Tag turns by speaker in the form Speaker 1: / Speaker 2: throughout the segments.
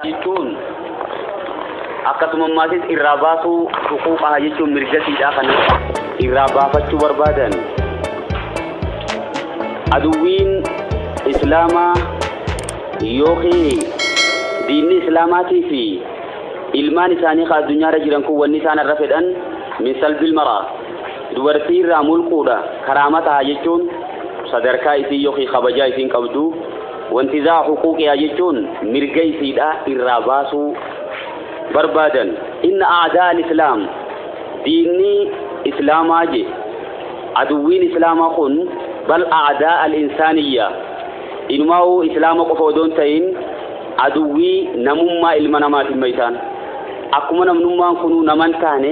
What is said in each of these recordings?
Speaker 1: jechuun akkasumammaatis irraa baasuu tuquu qaha jechuun mirgasiidhaa kana irraa baafachuu barbaadan aduwwiin islaamaa yookiin diinni islaamaatii fi ilmaan isaanii ka addunyaarra jiran kun wanni isaan irra fedhan min salbil maraa Dubartii irraa mulquudha karaama taha jechuun sadarkaa isiin yookiin kabajaa isiin qabdu wantizaa huquuqiyaa jechuun mirga isiidha irraa baasuu barbaadan inna aadaa al-islaam diinni islaamaa je aduwwiin islaamaa kun bal aadaa al-insaaniyya inumaa'uu islaama qofa odoon ta'in aduwwii namummaa ilma namaatiin maysaan akkuma namnummaan kunuu naman taane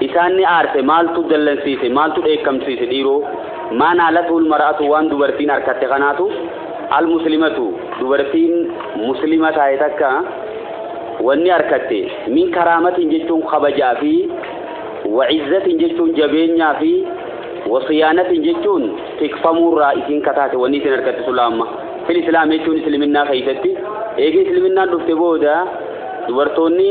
Speaker 1: Isaan ni aarse, maaltu dallansiise, maaltu dheekkamsiise dhiiroo? Maa naalatuhul mar'atu waan dubartiin arkatte kanaatu, al muslimatu, dubartiin muslima taate takka wanni arkatte, min karaamatin jechuun kabajaa fi wa izzatin jechuun jabeenyaa fi wa siyaanatin jechuun tikfamuurraa isiin kataate wanni isin arkatte sulaamma. Fil islaam jechuun isliminnaa keessatti, eega isliminnaan dhufte booda dubartoonni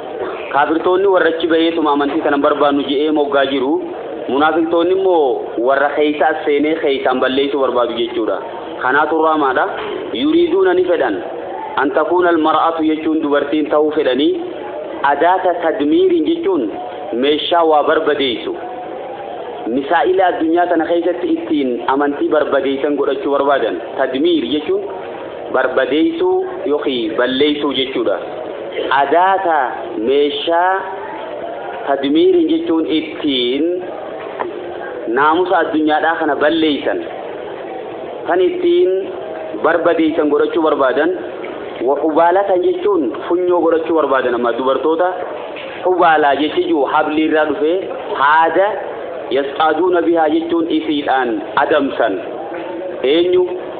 Speaker 1: Kaafirtoonni warra achi baheetuma amantii sana hin barbaannu je'ee moggaa jiru. Munaafiqtoonni immoo warra keeysa as seenee keeysaan balleeysuu barbaadu jechuudha. Kanaatu raamaadha. Yuriiduuna ni fedhan. An takuuna almar'atu jechuun dubartiin tahuu fedhanii. Adaata tadmiiriin jechuun meeshaa waa barbadeeysu. Misaa'ila addunyaa tana keeysatti ittiin amantii barbadeeysan godhachuu barbaadan. Tadmiir jechuun barbadeessuu yookiin balleessuu jechuudha. Adaata meeshaa tadmiiriin jechuun ittiin naamusa addunyaadhaa kana balleessan kan ittiin barbadeessan godhachuu barbaadan hubaalatan jechuun funyoo godhachuu barbaadan amma dubartoota hubaalaa jechi jiru hablii irraa dhufee haada yasxaaduuna bihaa jechuun isiidhaan adamsan eenyu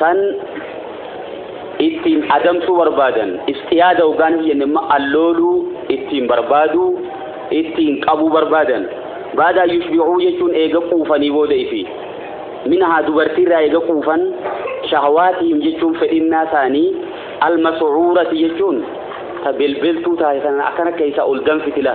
Speaker 1: san ittiin adamsuu barbaadan istiyaada hoggaan hin jenne immoo allooluu ittiin barbaaduu ittiin qabuu barbaadan baadaa yushbicuu jechuun eega quufanii booda ifi minhaa dubartiirraa eega quufan shahawaatihim jechuun fedhinnaa isaanii almasucuurati jechuun ta belbeltuu taate sana akkana keessaa ol danfitila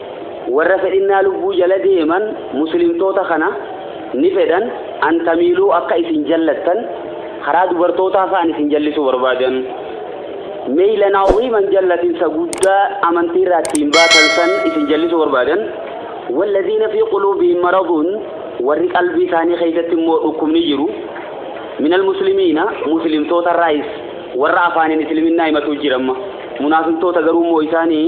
Speaker 1: Warra fedhinnaa lubbuu jala deeman muslimtoota kana ni fedhan an tamiiluu akka isin jallattan karaa dubartootaa fa'an isin jallisuu barbaadan meylan aziiman jallatinsa guddaa amantii irraa ittiin baatan san isin jallisuu barbaadan walladhiina fi quluubihim maraduun warri qalbii isaanii keessatti immoo dhukkubni jiru minal muslimiina muslimtoota irraayis warra afaaniin isliminaa himatuu jiramma munaafiqtoota garuu immoo isaanii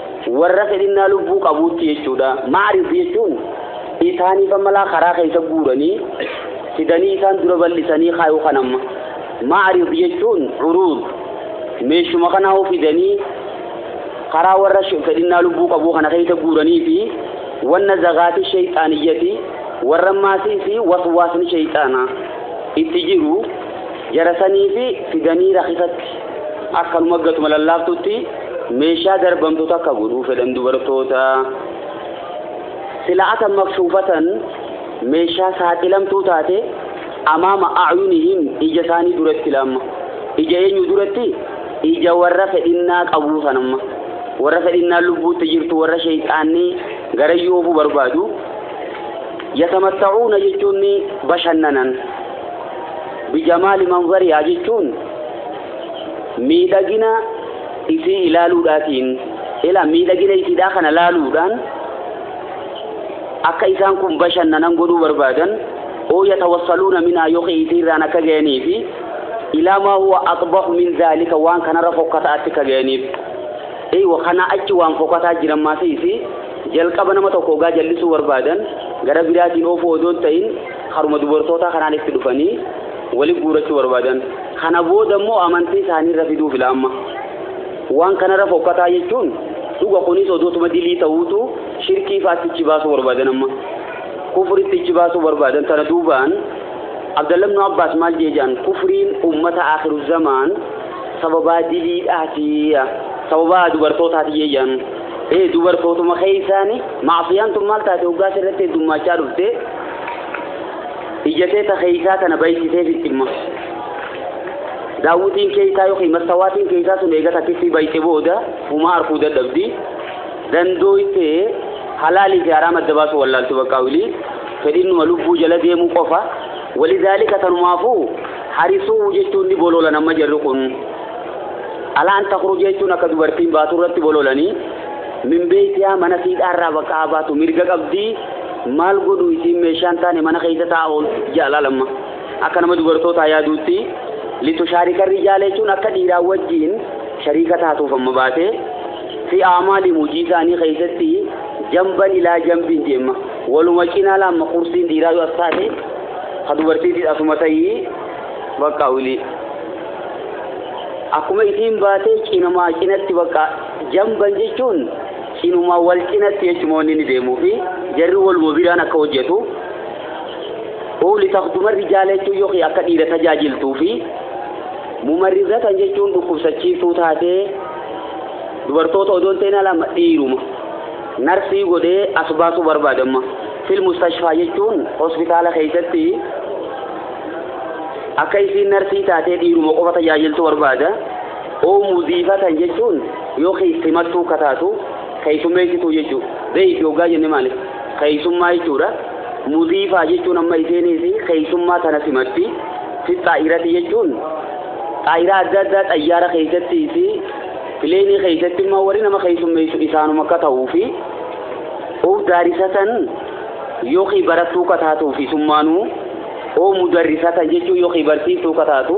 Speaker 1: warra fedhinnaa lubbuu qabuutti jechuudha. Ma'arif jechuun isaaniif ammalaa karaa keessa guuranii fidanii isaan dura bal'isanii kaayuu kan amma. Ma'arif jechuun uruud meeshuma kanaa fidanii karaa warra fedhinnaa lubbuu qabuu kana keessa guuranii fi wanna zagaati shayxaaniyyati warra maasii fi waswaasni shayxaanaa itti jiru jarasanii fi fidanii rakisatti Akkanuma gatuma lallaaftutti meeshaa darbamtu takka godhuu fedhan dubartoota. Sila atan maksuufatan meeshaa saaxilamtuu taate amaama acyunihim ija isaanii duratti lamma. Ija eenyu duratti? Ija warra fedhinnaa qabuu sanamma. Warra fedhinnaa lubbuutti jirtu warra sheeyxaanni garayyuu oofuu barbaadu. Yatamattacuuna jechuun bashannanan. Bijamaali manzariyaa jechuun miidhagina isii ilaaluudhaatiin ilaa miidhagina isiidhaa kana laaluudhaan akka isaan kun bashannanan godhuu barbaadan oo yatawassaluuna minaa yookiin isiirraan akka ga'anii fi ilaa maa huwa aqbahu min zaalika waan kanarra fokkataa achi akka ga'aniif eeywa kanaa achi waan fokkataa jiran maasii isii jalqaba nama tokko ogaa jallisuu barbaadan gara biraatiin oofuu odoo hin ta'in haruma dubartootaa kanaan itti dhufanii wali guurachuu barbaadan kana booda immoo amantii isaanii irra fiduu fila amma waan kanarra fokkataa jechuun dhuga kunis odootuma dilii ta'uutu shirkii faatti ichi baasuu barbaadan amma kufritti ichi baasuu barbaadan tana duubaan abdalla ibnu abbaas maal jeejaan kufriin ummata akhiru zamaan sababaa diliidhaati sababaa dubartootaati jeejaan ee dubartootuma keessaani macsiyaan tun maal taate hoggaas irratti heddummaachaa dhufte Ijjatee ta keeysaa tana baysisee fixximma. Daawwitiin keeysaa yookiin mastawaatiin keeysaa sun eega takkittii bayxe booda humaa arkuu dadhabdi. Dandooytee halaalii fi haraama adda baasuu wallaalti baqqaa wilii fedhinnuma lubbuu jala deemuu qofa. Walidaalika tanumaafuu harisuu jechuun ni boloolan amma jarri kun. Alaan takruu jechuun akka dubartiin baatu irratti bololanii min beeytiyaa mana siidhaarraa baqqaa baatu mirga qabdii. Maal godhu isiin meeshaan taane mana keessa taa'aa ooltu ja'a laalamma. Akka nama dubartootaa yaaduutti litu shaarika rijaala jechuun akka dhiiraa wajjin shariika taatuuf amma baatee fi aamaali hojii isaanii keessatti jamban ilaa jambiin deemma. Waluma cinaa laamma kursiin dhiiraa yoo as taate ka dubartiitis asuma ta'ii bakka wilii. Akkuma isiin baatee cinamaa cinatti bakka jamban jechuun Cinuma wal cinatti jechuma wanni inni deemuu fi jarri waluma biraan akka hojjetu uu litakduma rijaala jechuun yookiin akka dhiira tajaajiltuu fi mumarrizatan jechuun dhukkubsachiiftuu taatee dubartoota odoon ta'in lama dhiiruma narsii godhee as baasuu barbaadamma fil mustashfaa jechuun hospitaala keessatti akka isiin narsii taatee dhiiruma qofa tajaajiltuu barbaada. Hoo mudiifatan jechuun yoo keeysimattuu ka taatu keeysummeeysituu jechuu beeyki hoggaa jenne maali keeysummaa jechuudha mudiifaa jechuun amma iseenis keeysummaa tana simatti fi xaa'irati jechuun xaa'iraa adda addaa xayyaara keeysatti fi pileenii keeysatti immoo warri nama keeysummeeysu isaanuma akka ta'uu fi of daarisatan yookiin barattuu ka taatuuf isummaanuu oo mudarrisatan jechuun yookiin barsiiftuu ka taatu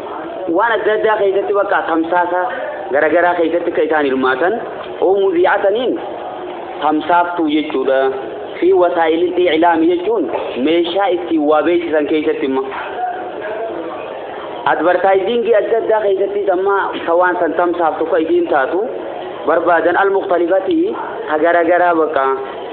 Speaker 1: waan adda addaa keessatti bakka tamsaasa garagaraa keessatti akka isaan hirmaatan oo muziicataniin tamsaaftuu jechuudha fi wasaa'ilil iclaami jechuun meeshaa ittiin waa beeksisan keessatti immoo advartaayiziingii adda addaa keessattis amma ka waan san tamsaaftu ka isiin taatu barbaadan al-muqtalifatii ka garagaraa bakka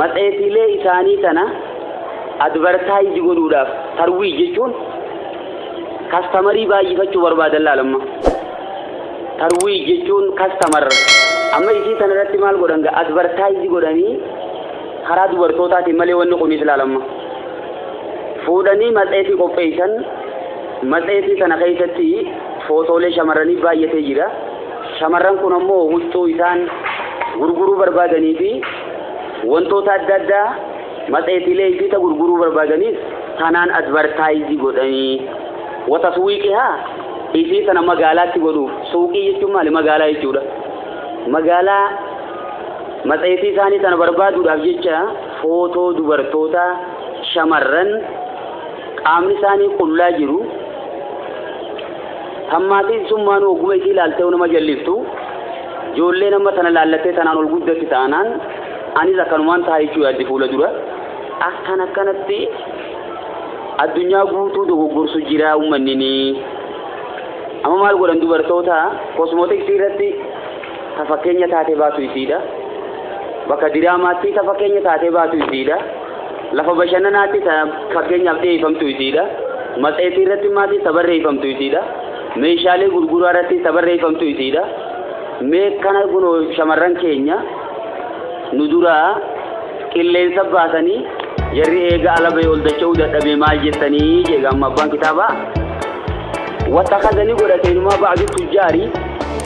Speaker 1: Matseetiilee isaanii tana advertise godhuudhaaf tarwiij jechuun kastamarii baay'ifachuu barbaadan laal amma. Tarwiij jechuun kastamar amma isii tana irratti maal godhan gaa advertise godhanii karaa dubartootaatiin malee wanni kunis laal amma. Fuudhanii matseetii qopheessan matseetii tana keessatti footoolee shamarranii baay'atee jira. Shamarran kun ammoo huccuu isaan gurguruu barbaadanii fi Wantoota adda addaa matseetiilee isii ta gurguruu barbaadaniis tanaan advartaayizii godhanii wataswiiqihaa isii sana magaalaatti godhuuf suuqii jechuun maali magaalaa jechuudha magaalaa matseetii isaanii sana barbaaduudhaaf jecha footoo dubartootaa shamarran qaamni isaanii qullaa jiru Tammaatiin summaanuu ogguma isii laaltee nama jalliftu joollee nama tana laallattee tanaan ol guddatti taanaan anis akkanumaan ta'a jechuu yaaddi fuula dura. Akkan akkanatti addunyaa guutuu dogoggorsu jira uummanni ni. Amma maal godhan dubartoota kosmootiksii irratti ta fakkeenya taatee baatu isiidha bakka diraamaatti ta fakkeenya taatee baatu isiidha lafa bashannanaatti ta fakkeenyaaf dhiyeeffamtu isiidha matseetii irratti maatii ta barreeffamtu isiidha meeshaalee gurguraa irratti ta barreeffamtu isiidha mee kana kunoo shamarran keenya nu duraa qilleensa baasanii jarri eega alabee ol dacha'uu dadhabee maal jettanii jeega amma abbaan kitaabaa wata kazanii godhateenumaa ba'adu tujjaarii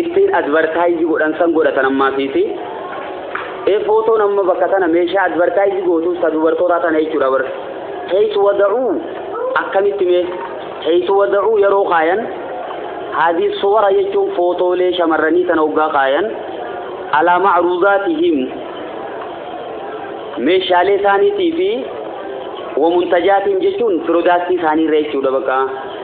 Speaker 1: ittiin advertise godhan san godhatan ammaa fiiti ee footoon amma bakka tana meeshaa advertise gootuuf ta dubartootaa tana jechuudha bar heeysu wada'uu akkamitti mee heeysu wada'uu yeroo kaayan haadii suwara jechuun footoolee shamarranii tana hoggaa kaayan alaa macruudaatihim meeshaalee isaaniitii fi wamuntajaatihim jechuun piroodaaktii isaanii irra jechuudha bakka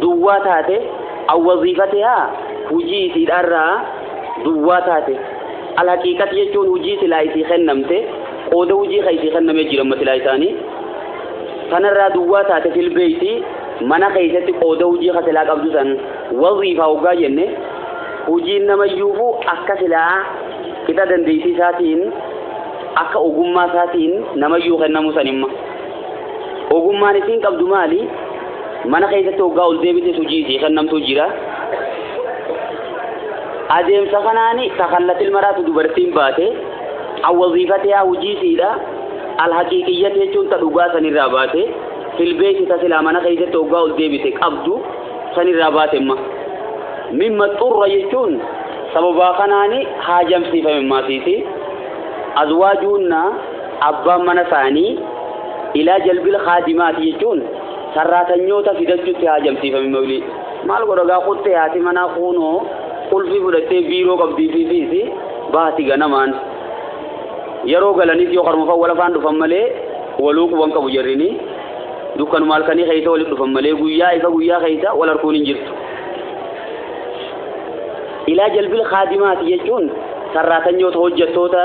Speaker 1: duwwaa taate awwaziifatihaa hujii isiidhaarraa duwwaa taate alhaqiiqati jechuun hujii silaa isii kennamte qooda hujii ka isii kennamee jiramma silaa isaanii tanarraa duwwaa taate filbeeyti mana keessatti qooda hujii ka silaa qabdu san waziifaa hoggaa jenne hujiin namayyuufu akka silaa qixa dandeettii isaatiin akka ogummaa isaatiin namayyuu kennamu sanimma. Ogummaan isiin qabdu maali? Mana keessatti hoggaa ol deebitee hojii isii kennamtu jira. Adeemsa kanaan takallatil maraatu dubartiin baate awwaziifateyaa hojii isiidha. Alhaqiiqiyyati jechuun ta dhugaa sanirraa baate filbeeti ta silaa mana keessatti hoggaa ol deebite qabdu sanirraa baate imma. Mimma xurra jechuun sababaa kanaan haajamsiifame maasiiti. Azwaajuunnaa Abbaan mana isaanii ilaa jalbil kaadimaati jechuun sarraatanyoota fidachuutti haajamsiifame mawlii. Maal godha gaa kuttee haati manaa kuunoo qulfii fudhattee biiroo qabdii fi fiisi baati ganamaan. Yeroo galanis yoo karuma fawwala faan dhufan malee waluu quban qabu jarrini. Dukkanuma halkanii keessa walitti dhufan malee guyyaa ifa guyyaa keessa wal harkuun hin jirtu. Ilaa jalbil kaadimaati jechuun sarraatanyoota hojjettoota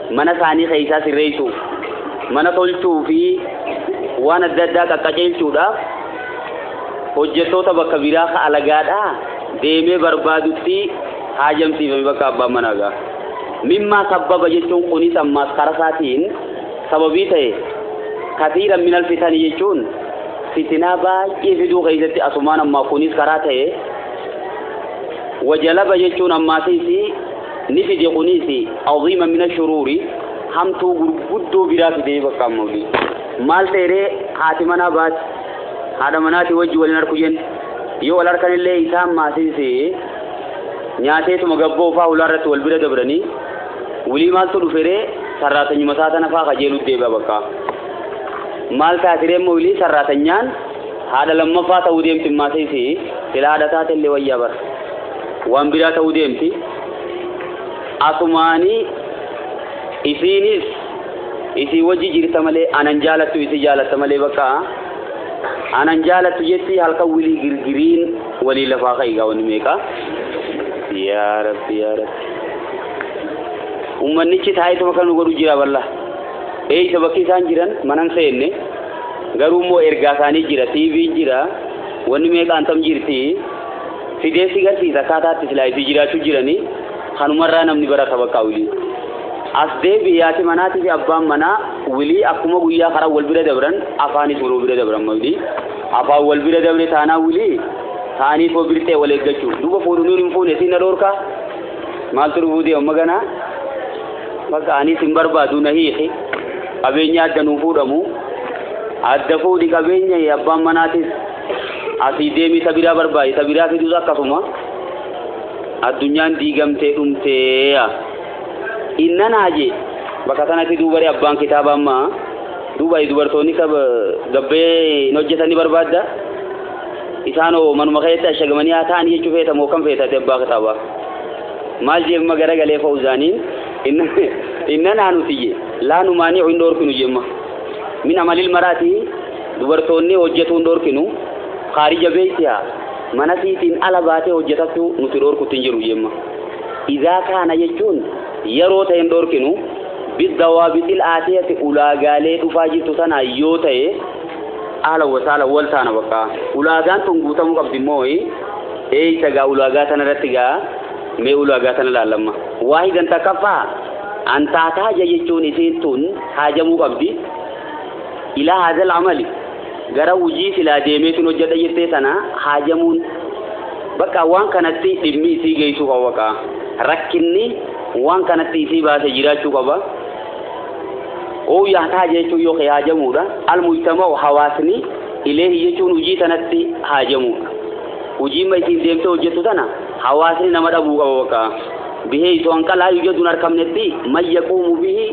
Speaker 1: mana isaanii keessaa sirreessuuf mana tolchuu fi waan adda addaa qaqqaceelchuudhaaf hojjettoota bakka biraa ka alagaadhaa deemee barbaadutti haajamsiifame bakka abbaan manaa gaa mimmaa sabbaba jechuun kunis ammaas karaa isaatiin sababii ta'e kasiira minal fitanii jechuun fitinaa baay'ee fiduu keessatti asumaan ammaa kunis karaa ta'e wajalaba jechuun ammaasiis ni fide kunis aziima mina shuruuri hamtuu gurguddoo biraa fidee bakka amma olii maal ta'eree haati manaa baati haadha manaati wajji waliin harku jen yoo wal harkan illee isaan maasiise nyaateetuma gabboo faa hulaa irratti wal bira dabranii wulii maaltu dhuferee sarraatanyuma isaa tana faa kajeeluu deebi'a bakka maal taasiree immoo wulii sarraatanyaan haadha lammaffaa ta'uu deemti maasiise sila haadha taate illee wayyaa bara waan biraa ta'uu deemti asumaanii isiinis isii wajji jirta malee anan jaalattu isii jaalatta malee bakka anan jaalattu jetti halkan wilii girgiriin walii lafaa ka'igaa wanni meeqa yaa rabbi yaa rabbi ummannichi taa'eetu bakka nu godhu jira balla eeysa bakki isaan jiran manan seenne garuu immoo ergaa isaanii jira tiiviin jira wanni meeqaan tam jirti fidee si garsiisa akkaataatti silaa itti jiraachuu jiranii kanumarraa namni barata bakka wilii as deebi yaati manaatii fi abbaan manaa wilii akkuma guyyaa karaa wal bira dabran afaanis waloo bira dabran mawlii afaan wal bira dabre taanaa wilii taanii koo birtee wal eeggachuu duuba fuudhunuun hin fuune siin na dhoorkaa maaltu dhufuu deema maganaa bakka anis hin barbaadu na hiiki qabeenya adda nuu fuudhamu adda fuudhi qabeenya abbaan manaatis asii deemii ta biraa barbaadi ta biraa fiduus akkasuma addunyaan diigamtee dhumtee yaa innan haajee bakka sanatti duubaree abbaan kitaaba amma duuba dubartoonni ka gabbee hin hojjetanii barbaadda isaan hoo manuma keessatti ashagamanii haa ta'an jechuu feeta moo kan feetate abbaa kitaaba maal jeemma garagalee fa'uzaaniin innan haa nuti je laa numaanii hin dhoorkinu jeemma min amalil maraatii Dubartoonni hojjetuu hin dhorkinu kaarija beeytiha mana siitiin ala baatee hojjetattu nuti dhorkutti hin jiru jemma. Izaa kaana jechuun yeroo ta'e hin dhorkinu biddawaabixil aatiyati ulaagaalee dhufaa jirtu tanaa yoo ta'e aala wasaala wal taana bakka ulaagaan tun guutamuu qabdi immoo eeysa gaa ulaagaa tana irratti gaa mee ulaagaa tana laallamma waahidan takkaffaa antaataa jechuun isiin tun haajamuu qabdi Ilaa haazal amali gara hujii silaa deemeetin hojjadha jettee sana haajamuun bakka waan kanatti dhimmi isii geessuu qaba bakka rakkinni waan kanatti isii baase jiraachuu qaba. Oo yahtaaja jechuun yoo haajamuudha. Almujtama'u hawaasni ileehi jechuun hujii tanatti haajamuudha. Hujiimma isiin deemtee hojjettu tana hawaasni nama dhabuu qaba bakka. Bihee isoo hanqalaa yujadun arkamnetti man yaquumu bihi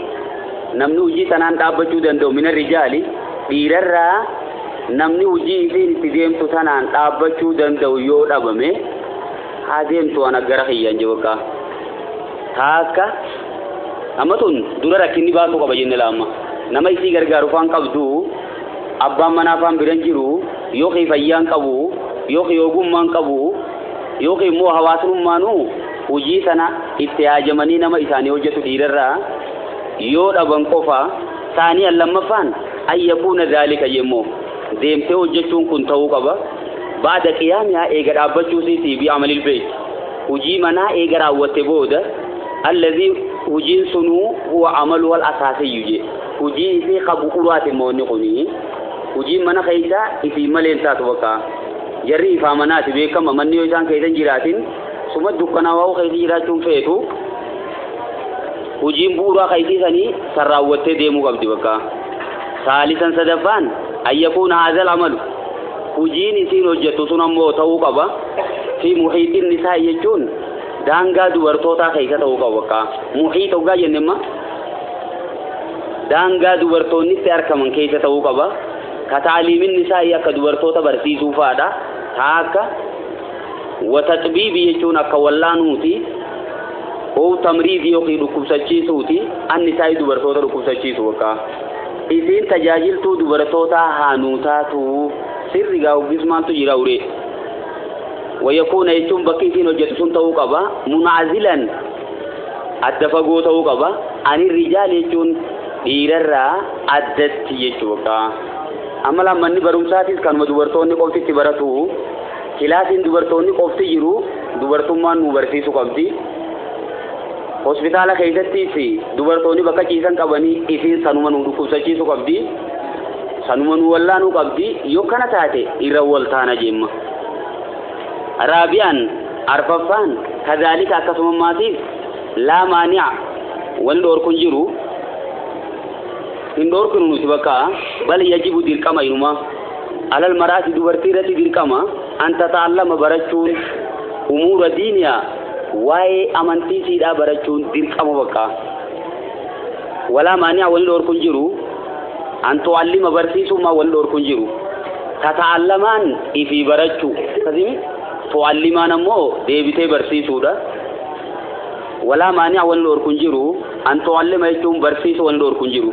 Speaker 1: namni hujii tanaan dhaabbachuu danda'u mina rijaali dhiirarraa namni hujii isiin itti deemtu tanaan dhaabbachuu danda'u yoo dhabame haa deemtu ana gara kiyyaan je bakka taakka amma tun dura rakkinni baasuu qaba jenne laamma nama isii gargaaru faan qabdu abbaan manaa faan biran jiru yookiin fayyaan qabu yookiin ogummaan qabu yookiin immoo hawaasummaanuu hujii sana itti haajamanii nama isaanii hojjetu dhiirarraa yoo dhaban qofa saaniyan lammaffaan an yakuuna zaalika yemmoo deemtee hojjechuun kun ta'uu qaba baada qiyaamihaa eega dhaabbachuu siitii bi amalil beeyt hujii manaa eega raawwatte booda allazii hujiin sunuu huwa amalu wal asaasiyyu jee hujii isii ka bu'uraati immoo inni kuni hujiin mana keeysaa isii malee hin taatu bakka jarri ifaa manaati beekama manni yoo isaan keeysan jiraatin suma dukkanaa waa'u keeysi jiraachuun feetu hojiin bu'uuraa ka isii sanii san raawwattee deemuu qabdi bakka saalisan sadaffaan ayyakuun haazal amalu hojiin isiin hojjettu sun ammoo ta'uu qaba fi muhiixin nisaa jechuun daangaa dubartootaa keessa ta'uu qaba bakka muhiix hoggaa jenne imma daangaa dubartoonnitti argaman keessa ta'uu qaba ka taaliimin nisaa akka dubartoota barsiisuu fa'aadha taa akka wataxbiibi jechuun akka wallaanuuti Ow tamriidi yookiin dhukkubsachiisuuti annisaa'i dubartoota dhukkubsachiisu bakka. Isiin tajaajiltuu dubartootaa haa nuu taatuu sirri gaa hoggis maaltu jira uree. Wayakuuna jechuun bakki isiin hojjetu sun ta'uu qaba munaazilan adda fagoo ta'uu qaba ani rijaal jechuun dhiirarraa addatti jechuu bakka. Amma lammanni barumsaatis kanuma dubartoonni qoftitti baratu. Kilaasiin dubartoonni qofti jiru dubartummaan nu barsiisu qabdi. Hospitaala keessattis dubartoonni bakka ciisan qabanii isiin sanuma nu dhukkubsachiisu qabdi. Sanuma nu wallaanuu qabdi. Yoo kana taate irra waltaana jemma. Raabiyaan arfaffaan kazaalika akkasuma maatiif laa maani'a wal dhoorku hin jiru. Hin dhoorkinu nuti bakka bal yajibu dirqama inumaa. Alal maraati dubartii irratti dirqama an tataallama barachuun umuura diiniyaa waa'ee amantii siidhaa barachuun dirqama bakka. Walaa maaniyaa wani dhoorku hin jiru an tu'allima barsiisummaa wani dhoorku hin jiru. Tataallamaan ifii barachuu akkasimi tu'allimaan ammoo deebitee barsiisuudha. Walaa maaniyaa wani dhoorku hin jiru an tu'allima jechuun barsiisuu wani dhoorku hin jiru.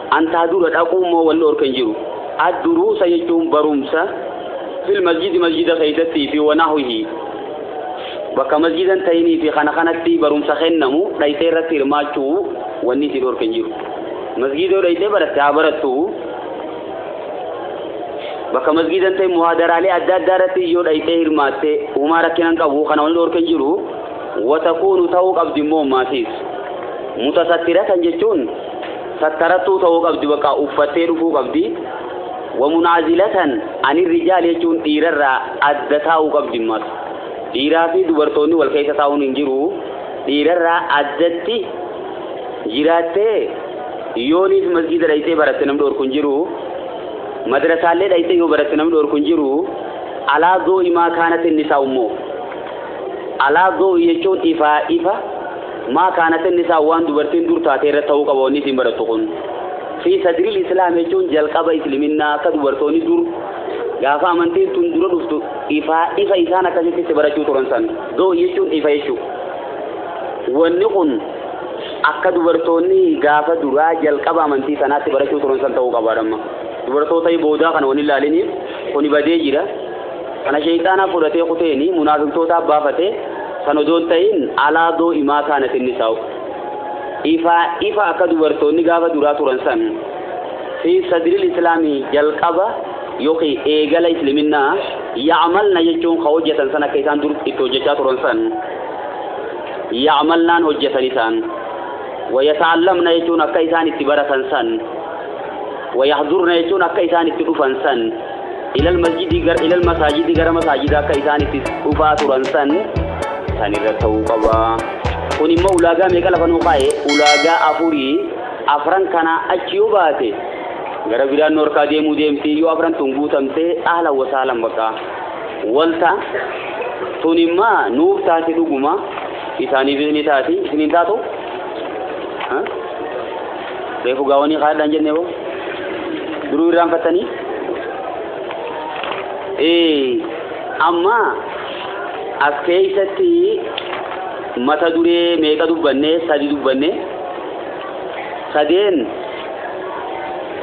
Speaker 1: An taa dura dhaquu immoo wal dhorka hin jiru. Ad duruusa jechuun barumsa fil masjidi masjida keessatti fi wanahwihi bakka masjida hin ta'inii fi kana kanatti barumsa kennamu dhayxee irratti hirmaachuu wanni si dhorka hin jiru. Masjida yoo dhayxee baratte haa barattu. Bakka masjida hin ta'in muhaadaraalee adda addaa irratti yoo dhayxee hirmaatte humaa rakkina hin qabu kana wanni dhorka hin jiru. Watakuunu ta'uu qabdi immoo maasiis. Mutasattiratan jechuun sattarattuu ta'uu qabdi bakka uffattee dhufuu qabdi wamunaazilatan ani rijaal jechuun dhiirarraa adda taa'uu qabdi immas dhiiraa fi dubartoonni wal keessa taa'uun hin jiru dhiirarraa addatti jiraattee yooniif masjida dhayxee baratte namni dhorku hin jiru madrasaallee dhayxee yoo baratte namni dhorku hin jiru alaa doo'imaa kaanatti inni isaa ummoo alaa doo'i jechuun ifaa ifa maa kaanatin nisaa waan dubartiin dur taatee irratti ta'uu qaba wanni isiin barattu kun fi sadriil islaam jechuun jalqaba isliminnaa akka dubartoonni dur gaafa amantiin tun dura dhuftu ifaa ifa isaan akkasitti itti barachuu turan san doo jechuun ifa jechuu wanni kun akka dubartoonni gaafa duraa jalqaba amantii sanaatti barachuu turan san ta'uu qabaadhamma dubartoota boodaa kana wanni ilaaliniif kuni badee jira Kana sheyxaanaa fudhatee kuteeni munaafiqtootaa baafate san odoon tahin alaa doo imaa kaanat innisaa'u. Ifaa ifa akka dubartoonni gaafa duraa turan san fi sadril islaami jalqaba yookiin eegala isliminnaa ya'malna jechuun ka hojjatan san akka isaan dur itti hojjachaa turan san ya'malnaan hojjatan isaan wayata'allamna jechuun akka isaan itti baratan san wayahdurna jechuun akka isaan itti dhufan san Ila almasjidi gara ila almasaajidi gara masaajidaa akka isaan itti dhufaa turan san san irra ta'uu qaba. Kun immoo ulaagaa meeqa lafa nuu kaa'e? Ulaagaa afurii afran kanaa achi yoo baate gara biraan nu harkaa deemuu deemti yoo afran tun guutamte ahlan wasaalan baqa walta tun immaa nuuf taate dhuguma isaaniif ni taati isiniin taatu? Huh? Reefu gaawanii kaadhaan jennee hoo duruu irraan fattanii amma as keessatti mata duree meeqa dubbanne sadi dubbanne sadeen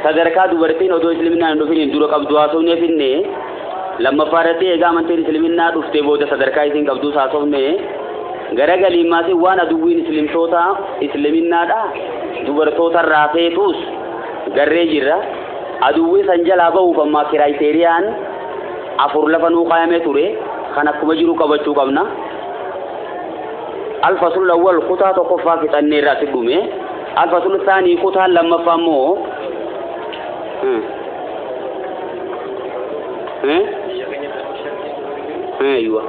Speaker 1: sadarkaa dubartiin odoo isliminaan hin dhufiniin dura qabdu haasofnee finne Lammaffaa irratti egaa amantiin Isliminnaa dhuftee booda sadarkaa isiin qabduu saasofne gara galiimmaatiin waan aduwwiin Islimtootaa Isliminnaa dubartoota irraa feetuus garree jirra. Aduwwii san jalaa bahuuf ammaa kiraayiteeriyaan afur lafa nuu kaayamee ture kan akkuma jiru qabachuu qabna. Alfasul awwal kutaa tokkoffaa fixannee irraa si dhume. Alfasul saanii kutaan lammaffaa immoo Eeywa.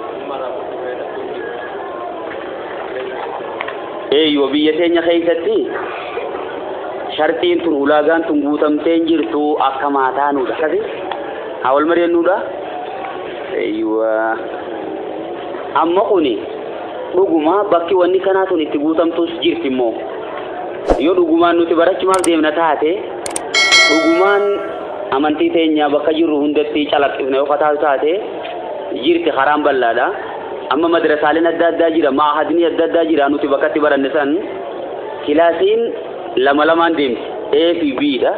Speaker 1: Eeywa biyya keenya keessatti sharxiin tun ulaagaan tun guutamtee hin jirtu akka maataa nuudha. Akkasi haa wal mari'annuudha. Eeywa. Amma kuni dhuguma bakki wanni kanaa tun itti guutamtus jirti immoo. Yoo dhugumaan nuti barachumaaf deemna taate dhugumaan amantii teenya bakka jirru hundatti calaqqifne yoo kataatu taate jirti karaan bal'aadha. Amma madrasaaleen adda addaa jira, maahadni adda addaa jira nuti bakkatti baranne san kilaasiin lama lamaan deemti. A fi B dha.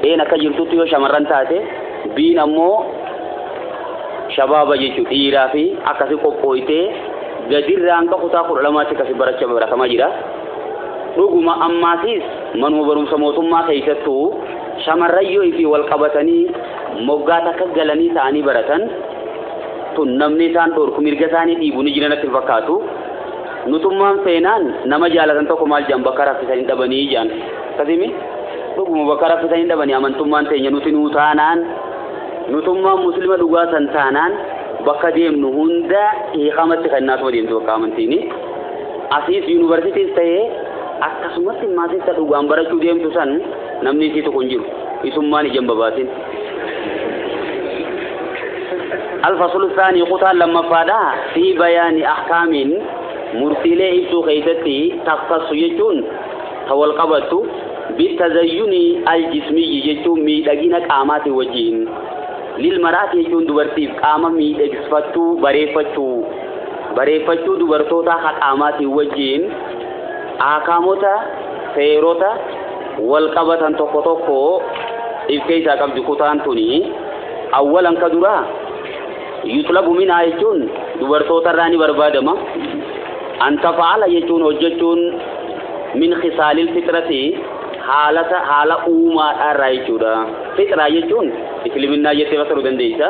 Speaker 1: A'n akka jirtutti yoo shamarran taate B'n ammoo shabaaba jechuudha dhiiraa fi akkasii qophooytee gadirraa hanga kutaa kudha lamaatti akkasii barachaa baratamaa jira. Dhuguma ammaasiis manuma barumsa mootummaa keessattuu shamarran yoo ifi wal qabatanii moggaa takka galanii ta'anii baratan tun namni isaan dhorku mirga isaanii dhiibu ni jiran natti hin fakkaatu. Nutummaan feenaan nama jaalatan tokko maal jedhan bakka raffisan hin dhabanii jedhan. Akkasimi dhuguma bakka raffisan hin dhabanii amantummaan teenya nuti nuu taanaan nutummaan muslima dhugaa san taanaan bakka deemnu hunda hiikamatti kennaatuma deemtu bakka amantiini. Asiis yuunivarsiitiis ta'ee akkasumatti maasista dhugaan barachuu deemtu san namni isii tokko hin jiru. Isummaan ija hin babaasin. Alfasulu saanii kutaan lammaffaadha fi bayaani ahkaamiin murtiilee ibsuu keessatti taftassu jechuun ta wal qabattu bitazayyuni aljismiyyi jechuun miidhagina qaamaati wajjiin lilmaraati jechuun dubartiif qaama miidhagsifachuu bareeffachuu Bareeffachuu dubartootaa haqaamaatiin wajjiin aakaamota, seerota, walqabatan tokko tokko if keessaa qabdi kutaan tuni. Awwalan ka duraa yuxlabu minaa jechuun dubartootarraa ni barbaadama. Antafa'ala jechuun hojjechuun min khisaalil fixrati haalata haala uumaadhaarraa jechuudha. Fixraa jechuun isliminaa jettee fassaruu dandeessa.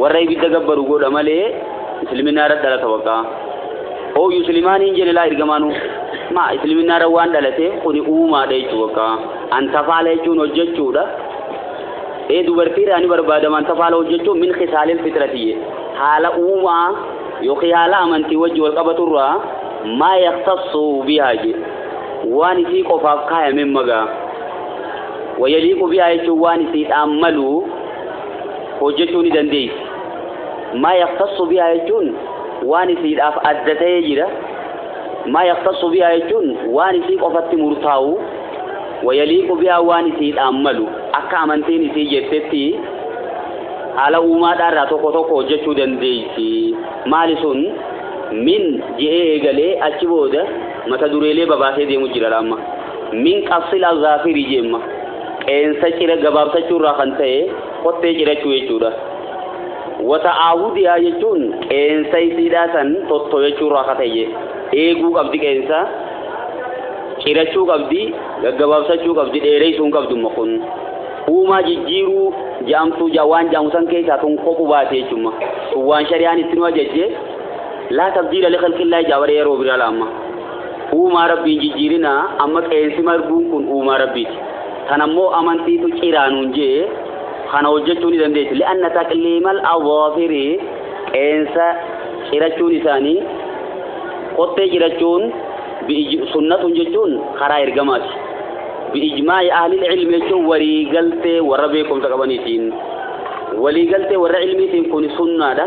Speaker 1: Warra ibidda gabbaru godha malee isliminaarra dhalata waqaa. Oo yuslimaaniin jene laa ergamaanu maa isliminaarra waan dhalate kuni uumaadha jechuu waqaa. Antafaala jechuun hojjechuudha. Ee dubartiirraa ni barbaadama antafaala hojjechuun min kisaalil fixratiyye. Haala uumaa yookiin haala amantii wajji wal qabaturraa maa yaktassu bihaa je. Waan isii qofaaf kaayameen magaa. Wayaliiqu bihaa jechuun waan isiidhaan malu hojjechuu ni dandeessi. Maa yaktassu bihaa jechuun waan isiidhaaf adda ta'ee jira. Maa yaktassu bihaa jechuun waan isii qofatti murtaa'u wayaliiqu bihaa waan isiidhaan malu akka amantiin isii jettetti haala uumaadhaarraa tokko tokko hojjechuu dandeessi. Maali sun min je'ee eegalee achi booda mata dureelee babaasee deemu jira laamma. Min qabsil al-gaafiri jeemma. qeensa cira gabaabsachuu irraa kan ta'e kottee cirachuu jechuudha. Wata aahudiyaa jechuun qeensa isiidhaa san tottoyachuu irraa kan ta'e eeguu qabdi qeensa cirachuu qabdi gaggabaabsachuu qabdi dheereessuu hin qabdu immoo kun uumaa jijjiiruu jaamtuu ja waan jaamu san keessaa tun kophu baate jechuudha. Sun waan shari'aan itti nu ajajje laa tabdiila liqilqillaa ijaa baree yeroo biraa laamma. Uumaa Rabbiin jijjiirinaa amma qeensi marguun kun uumaa Rabbiiti. Tan ammoo amantiitu ciraa nuun jee kana hojjechuu ni dandeessi. Li'anna taqliimal adhaafiri qeensa cirachuun isaanii qottee cirachuun sunnatun jechuun karaa ergamaati. Bi'ijmaa'i ahlil ilmi jechuun walii galtee warra beekumsa qabaniitiin. Walii galtee warra ilmiitiin kun sunnaadha.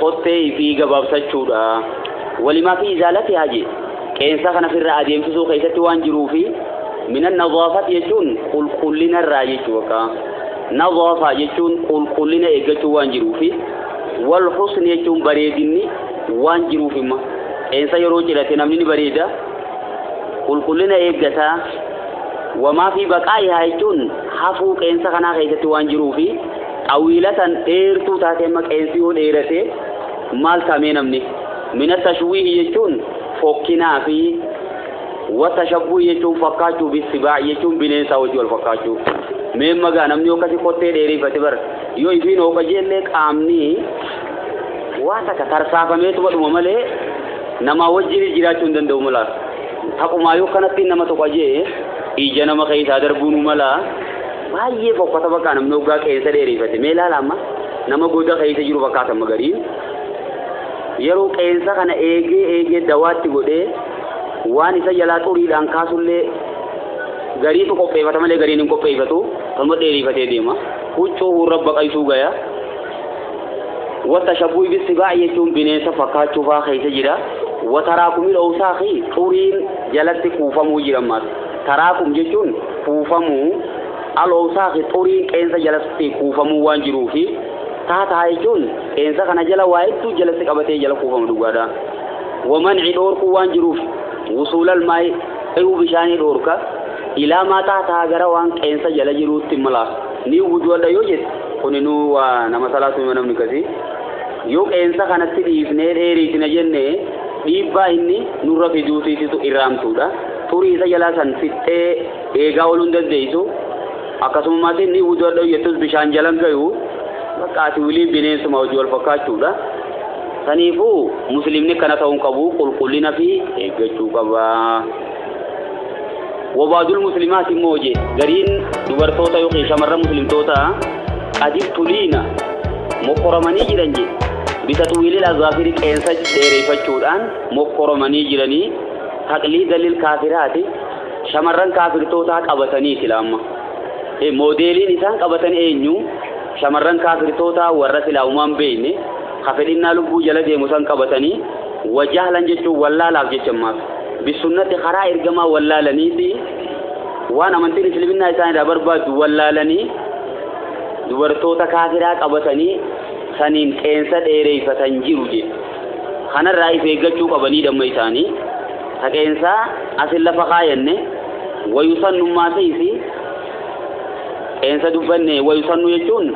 Speaker 1: qottee ifii gabaabsachuudha walimaa fi izaalati haji qeensa kana firra adeemsisuu keessatti waan jiruu fi minan nazaafat jechuun qulqullina irraa jechuu akka nazaafa jechuun qulqullina eeggachuu waan jiruu fi wal husni jechuun bareedinni waan jiruuf imma qeensa yeroo cirate namni ni bareeda qulqullina eeggata wamaa fi baqaa'ihaa jechuun hafuu qeensa kanaa keessatti waan jiruu fi Xawiila tan dheertuu taate amma qeensi yoo dheerate maal taamee namni mina tashwiihi jechuun fokkinaa fi wa tashabbuhi jechuun fakkaachuu bissibaa jechuun bineensaa wajji wal fakkaachuu mee magaa namni yoo akkasi kottee dheereeffate bar yoo ifiin hooqa jeellee qaamni waa takka tarsaafameetuma dhuma malee namaa wajjin jiraachuu hin danda'u mala taqumaa yoo kanatti nama tokko ajee ija nama keessaa darbuun mala Baay'ee fokkata bakka namni hoggaa qeensa dheerifate mee ilaala amma nama goda keessa jiru fakkaata amma gariin yeroo qeensa kana eegee eegee dawaatti godhee waan isa jalaa xuriidhaan kaasullee gariitu qopheeffata malee gariin hin qopheeffatu kanuma dheerifatee deema huccuu hurra baqaysuu gaya wata shabuu ibissi baay'ee jechuun bineensa fakkaachuufaa keessa jira wataraa kumil oowsaaqii xuriin jalatti kuufamuu jira ammaas Taraakum jechuun kuufamuu, Al-Owsaakhi xuriin qeensa jalatti kuufamuu waan jiruufi, Tahtaha jechuun qeensa kana jala waa hedduu jalatti qabatee jala kuufama dhugaadha. Wa manci dhoorkuu waan jiruuf, Wusuulal maa'i ce'uu bishaanii dhoorka, Ilaa maa tahtaha gara waan qeensa jala jiruutti mala ni wudu'adha yoo jette kuninuu waa nama salaatu hima namni akkasii. Yoo qeensa kanatti dhiifnee dheeriisina jenne dhiibbaa inni nurra fiduutiisitu irraamtuudha. xurii isa jalaa san fixxee eegaa ooluu hin dandeeysu akkasummaas inni wuduu adha'u jettus bishaan jala hin gayu bakka ati wiliin bineensuma hojii wal fakkaachuudha saniifuu musliimni kana ta'uu hin qabu qulqullina fi eeggachuu qaba wabaadul muslimaati immoo hojii gariin dubartoota yookiin shamarran muslimtoota qadif tuliina mokkoramanii jiran jee bitaxwiilil azaafiri qeensa dheereeffachuudhaan mokkoramanii jiranii Taqliida lil kaafiraati shamarran kaafirtootaa qabatanii sila amma Eh, moodeeliin isaan qabatan eenyu shamarran kaafirtootaa warra silaa umaan beeyne ka fedhinnaa lubbuu jala deemu san qabatanii wajahlan jechuun wallaalaaf jecha ammaaf bisunnatti karaa ergamaa wallaalanii fi waan amantiin isliminnaa isaan irraa barbaaddu wallaalanii dubartoota kaafiraa qabatanii saniin qeensa dheereeyfatan jiru jedhe kanarraa if eeggachuu qabanii damma isaanii taqeensaa asin lafa kaayanne wayusannummaa seeysi qeensa dubbanne wayusannu jechuun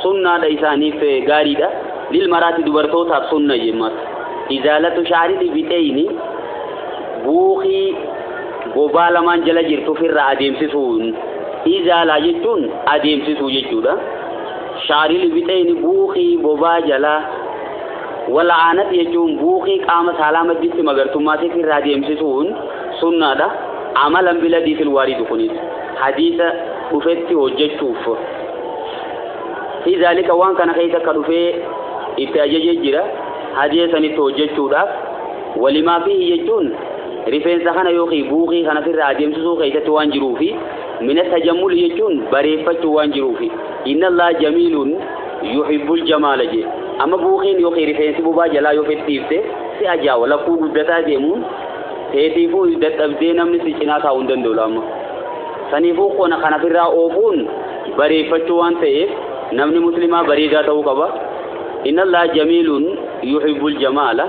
Speaker 1: sunnaadha isaaniif gaariidha lil maraati dubartootaaf sunna jemmas izaalatu shaariti bixeeyni buukii bobaa lamaan jala jirtu ofirraa adeemsisuun izaalaa jechuun adeemsisuu jechuudha shaarili bixeeyni buukii bobaa jalaa Wal'aanati jechuun buuqii qaama saalaa madditti magartummaa seeksii irraa deemsisuun sunnaadha. Amalan biladii fil waaridu kunis hadiisa dhufetti hojjechuuf fi zaalika waan kana keessa akka dhufee itti ajajee jira hadiisa sanitti hojjechuudhaaf walimaa fi jechuun rifeensa kana yookiin buuqii kana sirraa adeemsisuu keessatti waan jiruufi mina tajammuli jechuun bareeffachuu waan jiruufi inna Allah jamiilun yuhibbul jamaala jee amma buukiin yookiin rifeensi bubaa jalaa yoo fedhiifte si ajaawa lakkuu guddataa deemuun teetiifuu dadhabdee namni si cinaa taa'uu hin danda'u amma saniifuu qona kana firraa oofuun bareeffachuu waan ta'eef namni muslimaa bareedaa ta'uu qaba inna allah jamiilun yuhibbul jamaala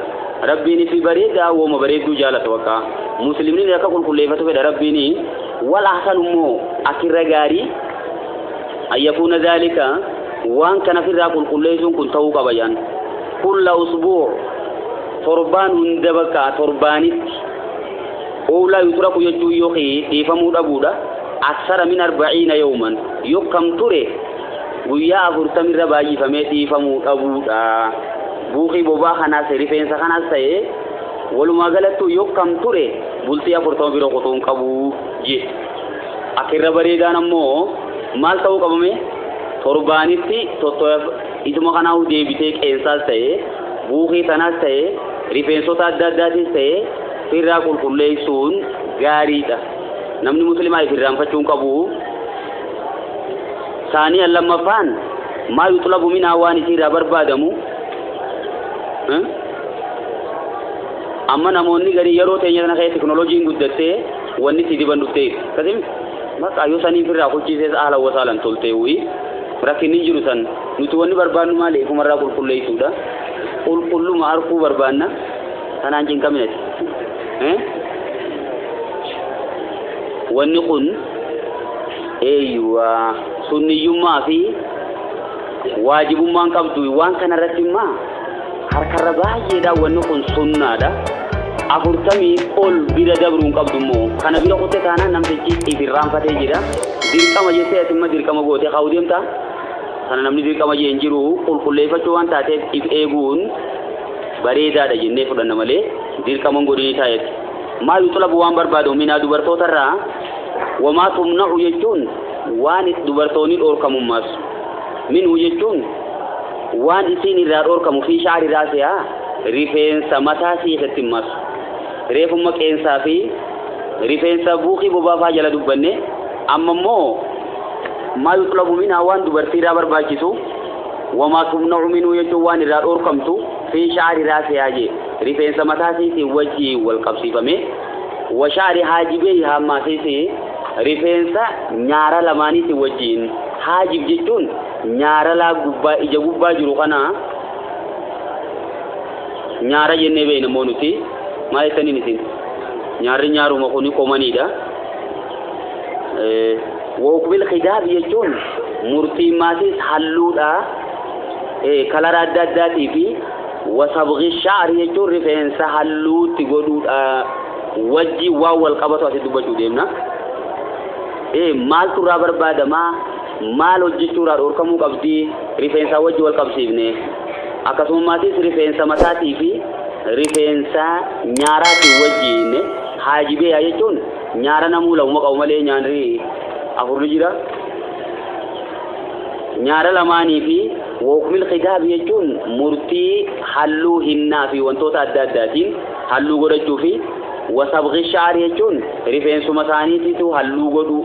Speaker 1: rabbiin fi bareedaa wooma bareedduu jaalata bakka muslimni akka qulqulleeffatu fedha rabbiin wal ahsan immoo akirra gaarii an yakuuna dhaalika waan kana firraa qulqulleeysuun kun ta'uu qaba jedhan kulla usbuu torbaan hunda bakka torbaanitti oolaa yutraku jechuun yookiin dhiifamuu dhabuudha aksara min arba'iina yooman yokkam ture guyyaa afurtamirra baay'ifamee dhiifamuu dhabuudha buuqii bobaa kanaas rifeensa kanaas ta'ee walumaa galattuu yokkam ture bultii afurtama bira qotoon qabu jee Akka irra bareedaan ammoo maal ta'uu qabame torbaanitti tottoyaf isuma kanaahu deebitee qeensaas ta'e buukee tanaas ta'e rifeensota adda addaatis ta'e firraa qulqulleessuun gaariidha. Namni muslimaa ifirraanfachuu hin qabu. Saanii lammaffaan maa yuxlabu minaa waan isiirraa barbaadamu amma namoonni garii yeroo teenya kana keessa teknolojiin guddattee Wanni si diban dhuftee kasim bakka yoo sanii firraa kuchiisees ahlan wasaalan toltee wuyi rakkinni jiru san nuti wanni barbaannu maali ifumarraa qulqulleessuudha qulqulluma harkuu barbaanna kanaan cinqaminati wanni kun eeyyuwaa sunniyyummaa fi waajibummaan qabdu waan kanarratti immaa Harkarra baay'eedha wanni kun sunnaadha. afurtamii ol bira dabruu hin qabdu immoo kana bira kutte taanaan namtichi if irraanfatee jira dirqama jettee atimma dirqama gootee kaa'uu deemta sana namni dirqama jee hin jiru qulqulleeffachuu waan taateef if eeguun bareedaadha jennee fudhanna malee dirqaman godhinii taayetti maa yuxlabu waan barbaadu minaa dubartootarraa wamaa tumna'u jechuun waan dubartoonni dhoorkamummaas minhu jechuun Waan isiin irraa dhoorkamu fii sha'ri raasihaa, rifeensa mataa siiqetti hin marsu. Reefumma qeensaa fii rifeensa buukii bobaa faa jala dubbanne, amma immoo maa yuxlabu minhaa waan dubartii irraa barbaachisu, wamaa tumna'u minhu jechuun waan irraa dhoorkamtu, fii sha'ri raasihaa jee, rifeensa mataa siitiin wajjiin wal qabsiifamee, wa sha'ri haajibeyhaa ammaasiis rifeensa nyaara lamaaniitiin wajjiin, haajib jechuun Nyaara laa gubbaa ija gubbaa jiru kana nyaara jennee beekna immoo nuti maal jettaniin isin nyaarri nyaaruma kuni qomaniidha. Wookbil khidaaf jechuun murtiin maatiis halluudha kalara adda addaatii fi wasabqi shaari jechuun rifeensa halluutti godhuudha wajji waan wal qabatu asi dubbachuu deemna. Maaltu irraa barbaadamaa? maal hojjechuu irraa dhoorkamuu qabdi rifeensaa wajji wal qabsiifnee akkasumammaatis rifeensa mataatii fi rifeensa nyaaraatiin wajjiin haajibee yaa jechuun nyaara namuu lamuma qabu malee nyaanri afurri jira nyaara lamaanii fi wookmil khidaab jechuun murtii halluu hinnaa fi wantoota adda addaatiin halluu godhachuu fi wasabqi shaar jechuun rifeensuma isaaniitiitu halluu godhuu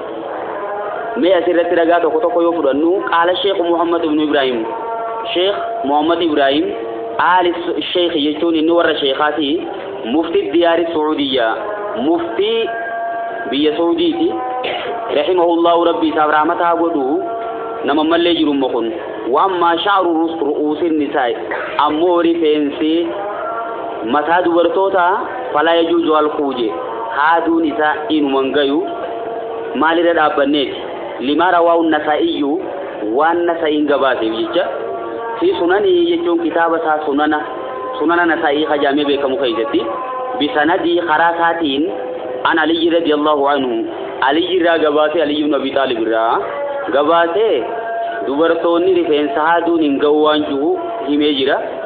Speaker 1: mee asirratti ragaa tokko tokko yoo fudhannu qaala sheekh muhammad ibnu ibraahim sheekh muhammad ibraahim aali sheekh jechuun inni warra sheekaati mufti diyaari suudiyya muftii biyya suudiiti rahimahullahu rabbi isaaf rahmataa godhu nama mallee jiru immoo kun waan maashaaru ru'uusin nisaa ammoo rifeensi mataa dubartootaa Falaa yajuuju halquu je, haaduun isaa inuma hin gayu, maal irra dhaabbanneeti? Limaa rawaahu Nasaa'iyyu, waan Nasa'iin gabaaseef jecha, fi sunanihi jechuun kitaaba isaa sunana, sunana Nasaa'ii ka jaamee beekamu keessatti, bisanadii karaa isaatiin, an Aliyyi radiyallahu anhu, Aliyyi irraa gabaasee, Aliyyi ibn Abi Xaalib irraa gabaasee, dubartoonni rifeensa haaduun hin gahu waan juhu himee jira.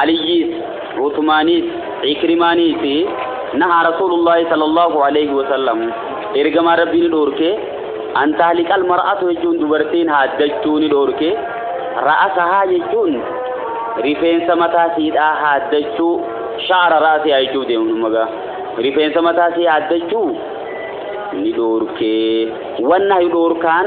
Speaker 1: Aliyyiis, Usmaaniis, Ikrimaaniis nahaa Rasuulullaahi sallallaahu aleeyhi wasallam, Ergamaan Rabbii ni dhoorke, an tahliqal mar'atu jechuun dubartiin haaddachuu ni dhoorke, ra'asahaa jechuun rifeensa mataa siidhaa haaddachuu, sha'ara ra'asihaa jechuuf deemu dhumma gaa, rifeensa mataa sii haaddachuu ni dhoorke. Wannahyu dhoorkaan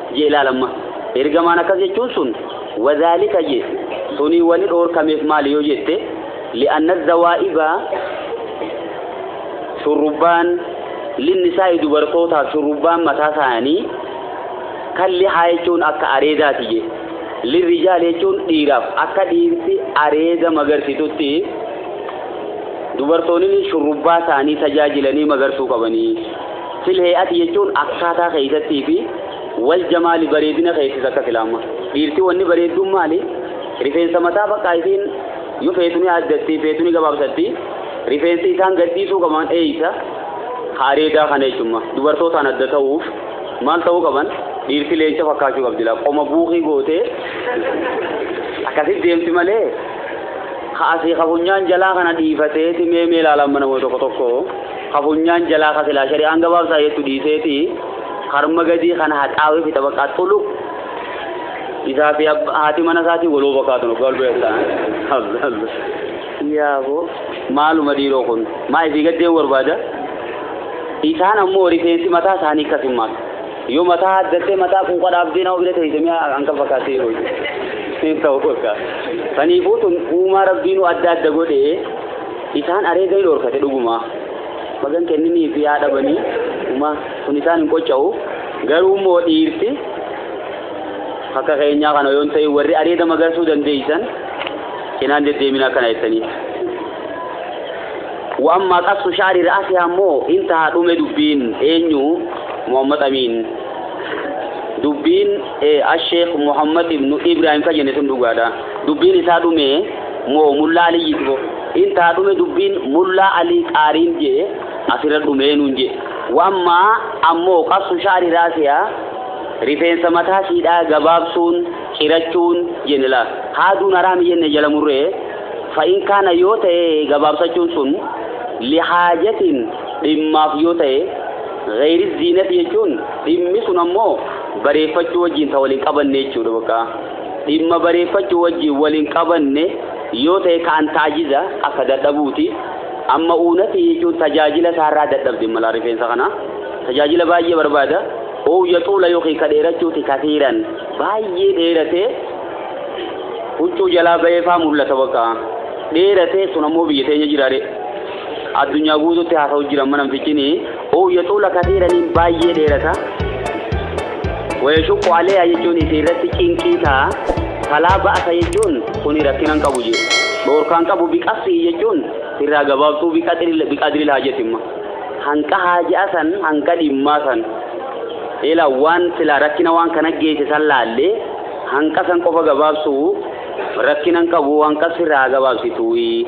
Speaker 1: jee ilaal amma ergamaan akkas jechuun sun wadhaalika jee sunii wani dhoorkameef maali yoo jette li'anna zawaa'iba shurrubbaan linnisaa'i dubartootaaf shurrubbaan mataa isaanii kan lihaa jechuun akka areedaati jee lirrijaal jechuun dhiiraaf akka dhiirti areeda magarsitutti dubartoonni shurrubbaa isaanii tajaajilanii magarsuu qabanii Fil hey'ati jechuun akkaataa keessattii fi wal jamaali bareedina keessis akka silaamma. Dhiirti wanni bareedduun maali? Rifeensa mataa faqqaa isiin yoo feetu ni aaddatti feetu ni gabaabsatti. Rifeensa isaan gadhiisuu qaban eeysa? Ka areedaa kana jechuun dubartootaan adda ta'uuf maal ta'uu qaban? Dhiirti leenca fakkaachuu qabdi laa qoma buukii gootee akkasitti deemti malee ka asii ka funyaan jalaa kana dhiifateeti mee mee ilaalaan mana tokko tokko. Ka funyaan jalaa ka silaa shari'aan gabaabsaa jettu dhiiseeti karma gadii kana haxaawee fi xabaqaa xulu isaa fi haati mana isaatiin waloo bakaatu nu gaal beektaan. Yaaboo maaluma dhiiroo kun maa isii gaddeen barbaada isaan ammoo rifeensi mataa isaanii akkas hin maatu. Yoo mataa addattee mataa quuqa dhaabdee nama bira teessee mi'a hanga fakkaatee yeroo hin ta'u fakkaata. Kaniifuu tun uumaa rabbiinuu adda adda godhee Isaan areeda ni dhoorkate dhugumaa. Bagan kenninii fi yaa dhabanii uma kun isaan hin qocca'u. Garuu immoo dhiirti akka keenyaa kana yoon ta'e warri areeda magarsuu dandeeysan cinaan deddeeminaa kana jettanii. Wa'ammaa qassu shaari ra'asii ammoo intahaa dhume dubbiin eenyu Muhammad Amiin. Dubbiin Asheekh Muhammad ibnu Ibrahim kan jenne sun dhugaadha. Dubbiin isaa dhumee moo mullaa aliyyiti bo in taa dhume dubbiin mullaa alii qaariin jee asirra dhumee nuun jee wammaa ammoo qassu shaari raasiyaa rifeensa mataa siidhaa gabaabsuun cirachuun jenne laa haaduun haraami jenne jala murree fa in kaana yoo ta'e gabaabsachuun sun lihaajatiin dhimmaaf yoo ta'e gayri ziinati jechuun dhimmi sun ammoo bareeffachuu wajjiin ta waliin qabanne jechuudha bakka Dhimma bareeffachuu wajjiin wal hin qabanne yoo ta'e kaan taajiza akka dadhabuuti. Amma uunati jechuun tajaajila isaarraa dadhabde malaa rifeensa kana. Tajaajila baay'ee barbaada. Ou yaxuula yookiin ka dheerachuuti kasiiran baay'ee dheeratee huccuu jalaa ba'ee faa mul'ata bakka. Dheeratee sun ammoo biyya teenya jiraare. Addunyaa guutuutti haasa'u jira amma namtichini. Uu yaxuula katiira niin baayyee dheerata wayashuqqu aleeya jechuun isii irratti cinqii ta'a falaa ba'asa jechuun kuni rakkinan qabu je dhoorkaan qabu biqassi'i jechuun sirraa gabaabsuu biqaxiril biqadril haajatimma hanqa haaja'a san hanqa dhimmaa san ila waan silaa rakkina waan kana geesse san laallee hanqa san qofa gabaabsuu rakkinan qabu hanqa sirraa gabaabsituuyi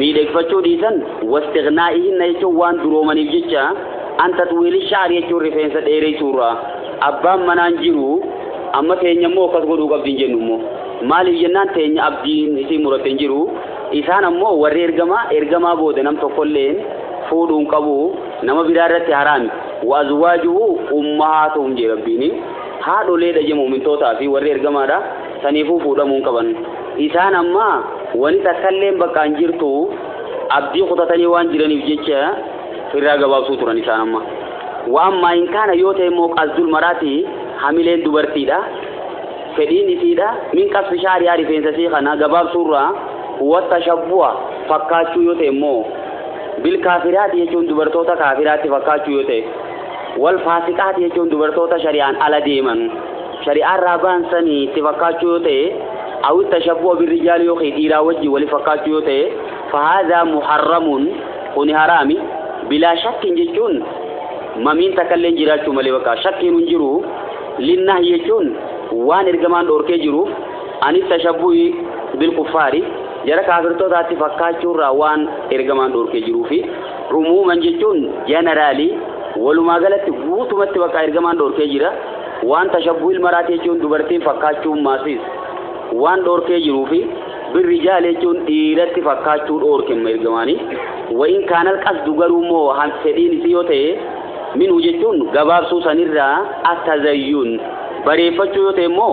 Speaker 1: miidhegfachuu dhiisan wastiqnaa'ihinna jechuun waan duroomaniif jecha an taxwiili sha'ar jechuun rifeensa dheereysuurraa abbaan manaan jiru amma teenya immoo akkas godhuu qabdi hin jennu immoo maaliif jennaan teenya abdiin isii muratte hin jiru isaan ammoo warri ergamaa ergamaa booda nam tokkolleen fuudhuu hin qabu nama biraa irratti haraami wa azwaajuhu ummahaatuhum jee rabbiini haadholeedha jee mu'mintootaa fi warri ergamaadha Saniifuu fuudhamuu hin qaban. Isaan amma wani takkalleen bakka hin jirtu abdii kutatanii waan jiraniif jecha firraa gabaabsuu turan isaan amma. Waan maayin kaana yoo ta'e immoo qasdul maraati hamileen dubartiidha. Fedhiin isiidha. Min qasfi shaariyaa rifeensa isii kana gabaabsuurraa wata shabbu'a fakkaachuu yoo ta'e immoo bilkaafiraati jechuun dubartoota kaafiraatti fakkaachuu yoo ta'e. Wal faasiqaati jechuun dubartoota shari'aan ala deeman, shari'aa irraa bahan san itti fakkaachuu yoo ta'e, aw ittashabbuha birrijaali yookiin dhiiraa wajjin wali fakkaachuu yoo ta'e, fahaadhaa muharramun, kuni haraami, bilaa shakkin jechuun mamiin takkalleen jiraachuu malee bakka shakkiinu hin jiru, linnahyi jechuun waan ergamaan dhoorkee jiruuf, an ittashabbuhi bilkuffaari, jara kaafirtootaatti fakkaachuurraa waan ergamaan dhoorkee jiruufi. Umuuman jechuun generally walumaa galatti guutumatti bakka ergamaan dhorkee jira. Waan tashabbuhil maraati jechuun dubartiin fakkaachuun maasis waan dhorkee jiruu fi birri jaal jechuun dhiiratti fakkaachuu dhorke ergamaanii. Wayin kaanal qasdu garuu immoo han fedhiin isii yoo ta'e minuu jechuun gabaabsuu sanirraa attazayyuun bareeffachuu yoo ta'e immoo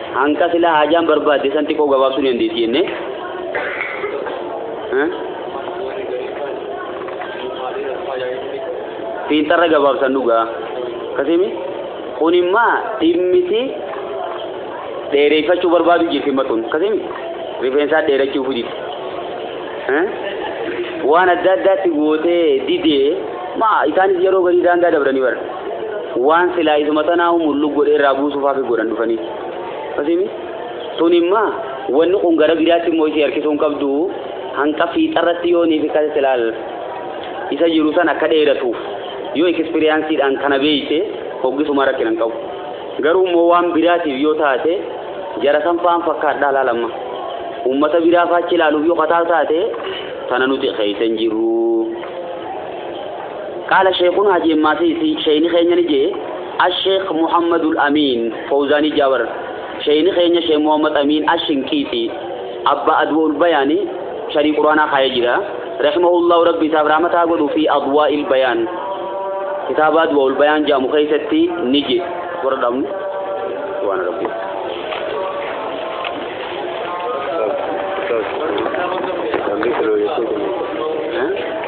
Speaker 1: Hanqa silaa haajaan barbaadde san xiqqoo gabaabsuu ni dandeessi jennee. Fiinxarra gabaabsan dhugaa. Akkasimi kun immaa dhimmiti dheereeffachuu barbaadu jirti matuun. Akkasimi rifeensaa dheerachuu fujitti. Waan adda addaatti gootee didee maa isaanis yeroo garii daangaa dabranii bara. waan silaa isuma tanaahu mullu godhe irraa buusuuf hafi godhan dhufanii asimi tun imma wanni kun gara biraatti immoo isii harkisuu hin qabdu hanqa fiixarratti yoo niif kan silaal isa jiru san akka dheeratuuf yoo ekspiriyaansiidhaan kana beeyte hoggisuma rakkina hin qabu garuu immoo waan biraatiif yoo taate jara san faan fakkaadhaa laalamma uummata biraa faachi ilaaluuf yoo kataa taate tana nuti keessa hin jirru Qaala Sheekhunaa Hajii Emmaasiisi, Sheeyni keenya ni je'e, Asheekh Muhammadul Amiin Fowzaanii Jaawar, Sheeyni keenya Sheekh Muhammad Amiin Ashinqiixii, Abbaa Adwa'ul Bayaani, Sharii Qur'aanaa kaayee jira, Rahimahullaahu Rabbi isaaf rahmata haa godhuufii Adwaa'il Bayaan, Kitaaba Adwa'ul Bayaan je'amu keessatti ni je. Warra dhaabnu. Subhaana Rabbii. Ustaaz, ustaaz, namni kilo jechuun kun